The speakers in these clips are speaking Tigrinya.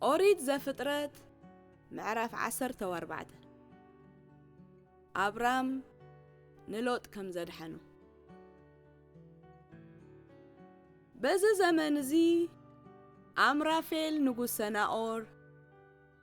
ኦሪት ዘፍጥረት ምዕራፍ ዓሰርተ ኣርባዕተ ኣብራም ንሎጥ ከም ዘድሓኑ በዚ ዘመን እዚ ኣምራፌል ንጉስ ሰናኦር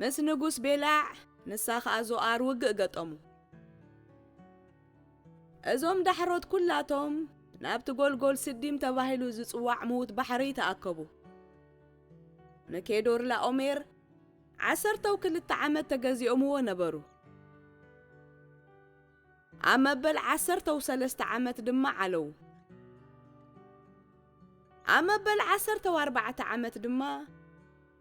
ምስ ንጉስ ቤላዕ ንሳ ኸኣ ዞኣር ውግእ ገጠሙ። እዞም ዳሕሮት ኵላቶም ናብቲ ጐልጐል ስዲም ተባሂሉ ዝጽዋዕ ምዉት ባሕሪ ተኣከቡ። ንኬዶርላኦሜር ዓሰርተው ክልተ ዓመት ተገዚኦምዎ ነበሩ። ኣብ መበል ዓሰርተው ሰለስተ ዓመት ድማ ዓለው። ኣብ መበል ዓሰርተው ኣርባዕተ ዓመት ድማ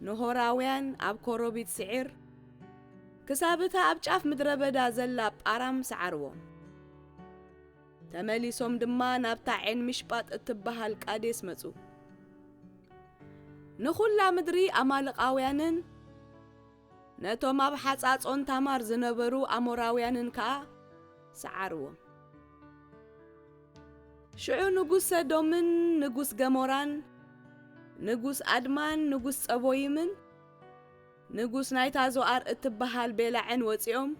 ኖሆራውያን ኣብ ኮሮቢት ስዒር ክሳብ እታ ኣብ ጫፍ ምድረ በዳ ዘላ ጳራም ሰዓርዎም። ተመሊሶም ድማ ናብታ ዔን ሚሽጳጥ እትበሃል ቃዴስ መጹ። ንዅላ ምድሪ ኣማልቃውያንን ነቶም ኣብ ሓጻጾን ታማር ዝነበሩ ኣሞራውያንን ከኣ ሰዓርዎም። ሽዑ ንጉስ ሰዶምን ንጉስ ገሞራን ንጉስ ኣድማን ንጉስ ጸቦይምን ንጉስ ናይታ ዞኣር እትበሃል ቤላዕን ወጺኦም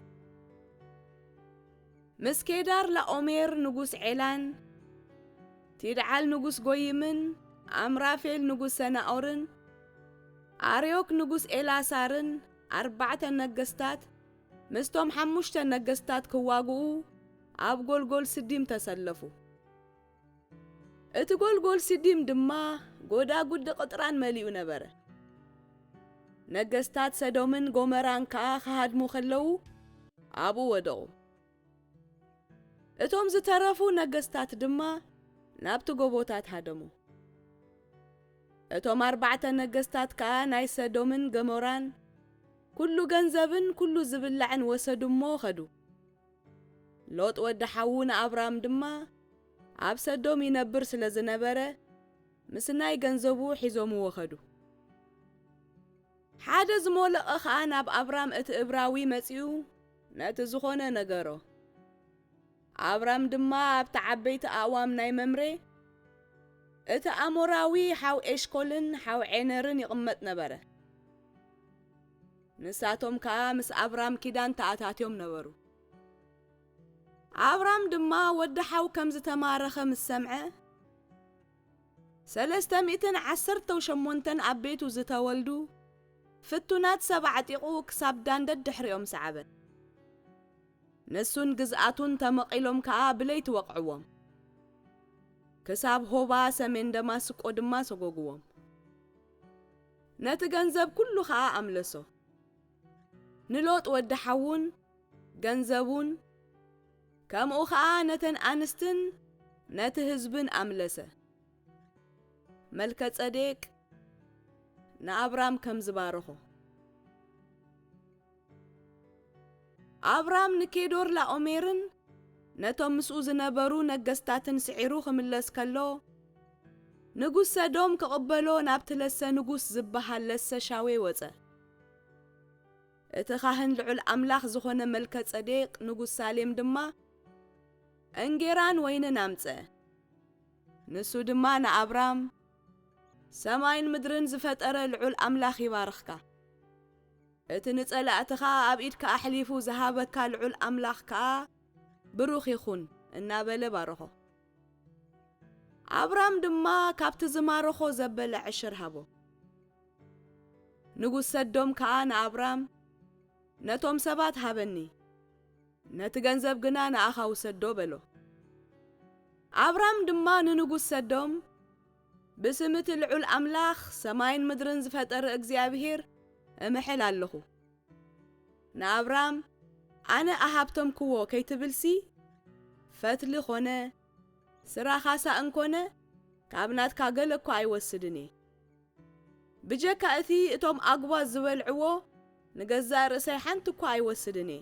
ምስ ኬዳር ላኦሜር ንጉስ ዔላን ቲድዓል ንጉስ ጎይምን ኣምራፌል ንጉስ ሰናኦርን ኣርዮክ ንጉስ ኤላሳርን ኣርባዕተ ነገስታት ምስቶም ሓሙሽተ ነገስታት ክዋግኡ ኣብ ጎልጎል ስዲም ተሰለፉ። እቲ ጎልጎል ሲዲም ድማ ጎዳጉዲ ቕጥራን መሊኡ ነበረ። ነገስታት ሰዶምን ጎመራን ከኣ ኺሃድሙ ኸለዉ ኣብኡ ወደቑ። እቶም ዝተረፉ ነገስታት ድማ ናብቲ ጎቦታት ሃደሙ። እቶም ኣርባዕተ ነገስታት ከኣ ናይ ሰዶምን ገሞራን ኵሉ ገንዘብን ኵሉ ዚብላዕን ወሰዱ እሞ ኸዱ። ሎጥ ወዲ ሓዉ ንኣብራም ድማ ኣብ ሰዶም ይነብር ስለ ዝነበረ ምስናይ ገንዘቡ ሒዞምዎ ከዱ። ሓደ ዝሞለቐ ኸኣ ናብ ኣብራም እቲ እብራዊ መጺኡ ነቲ ዝኾነ ነገሮ። ኣብራም ድማ ኣብቲ ዓበይቲ ኣእዋም ናይ መምሬ እቲ ኣሞራዊ ሓው ኤሽኮልን ሓው ዔነርን ይቕመጥ ነበረ። ንሳቶም ከኣ ምስ ኣብራም ኪዳን ተኣታትዮም ነበሩ። ኣብራም ድማ ወዲ ሓው ከም ዝተማረኸ ምስ ሰምዐ፣ ሰለስተ ሚእትን ዓሰርተው ሸሞንተን ኣብ ቤቱ ዝተወልዱ ፍቱናት ሰብ ኣዕጢቑ ክሳብ ዳን ደድሕሪኦም ሰዓበ። ንሱን ግዝኣቱን ተመቒሎም ከኣ ብለይቲ ወቕዕዎም፣ ክሳብ ሆባ ሰሜን ደማስቆ ድማ ሰጐግዎም። ነቲ ገንዘብ ኩሉ ኸኣ ኣምለሶ። ንሎጥ ወዲ ሓዉን ገንዘቡን ከምኡ ኸኣ ነተን ኣንስትን ነቲ ህዝብን ኣምለሰ። መልከጸዴቅ ንኣብራም ከም ዝባረኾ። ኣብራም ንኬዶርላኦሜርን ነቶም ምስኡ ዝነበሩ ነገስታትን ስዒሩ ክምለስ ከሎ፣ ንጉስ ሰዶም ክቕበሎ ናብቲ ለሰ ንጉስ ዝበሃል ለሰ ሻዌ ወጸ። እቲ ኻህን ልዑል ኣምላኽ ዝኾነ መልከጸዴቅ ንጉስ ሳሌም ድማ እንጌራን ወይንን ኣምጸ። ንሱ ድማ ንኣብራም፣ ሰማይን ምድርን ዝፈጠረ ልዑል ኣምላኽ ይባርኽካ። እቲ ንጸላእትኻ ኣብ ኢድካ ኣሕሊፉ ዝሃበካ ልዑል ኣምላኽ ከኣ ብሩኽ ይኹን እናበለ ባረኾ። ኣብራም ድማ ካብቲ ዝማረኾ ዘበለ ዕሽር ሃቦ። ንጉስ ሰዶም ከኣ ንኣብራም፣ ነቶም ሰባት ሃበኒ፣ ነቲ ገንዘብ ግና ንኣኻ ውሰዶ በሎ። ኣብራም ድማ ንንጉስ ሰዶም፣ ብስም እቲ ልዑል ኣምላኽ ሰማይን ምድርን ዝፈጠረ እግዚኣብሄር እምሕል ኣለኹ። ንኣብራም ኣነ ኣሃብተምክዎ ከይትብልሲ ፈትሊ ኮነ ስራ ካሳ እንኮነ ካብ ናትካ ገለ እኳ ኣይወስድን እየ። ብጀካ እቲ እቶም ኣጉባዝ ዝበልዕዎ ንገዛእ ርእሰይ ሓንቲ እኳ ኣይወስድን እየ።